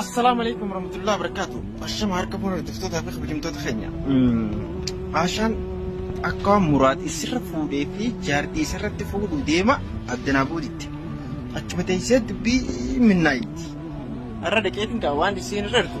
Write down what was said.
Assalaamu alaikum warahmatullahi wabarakatuh. Ashama harka fuula hordoftoota fi kabajamtoota keenya. Ashaan akka muraad isirra fuudhee fi jaartii isarratti fuudhuu deema addanaa booditti. Achuma teessee dubbii minnaayitti. Har'a dhaqeetiin kaa waan isiin irra argu.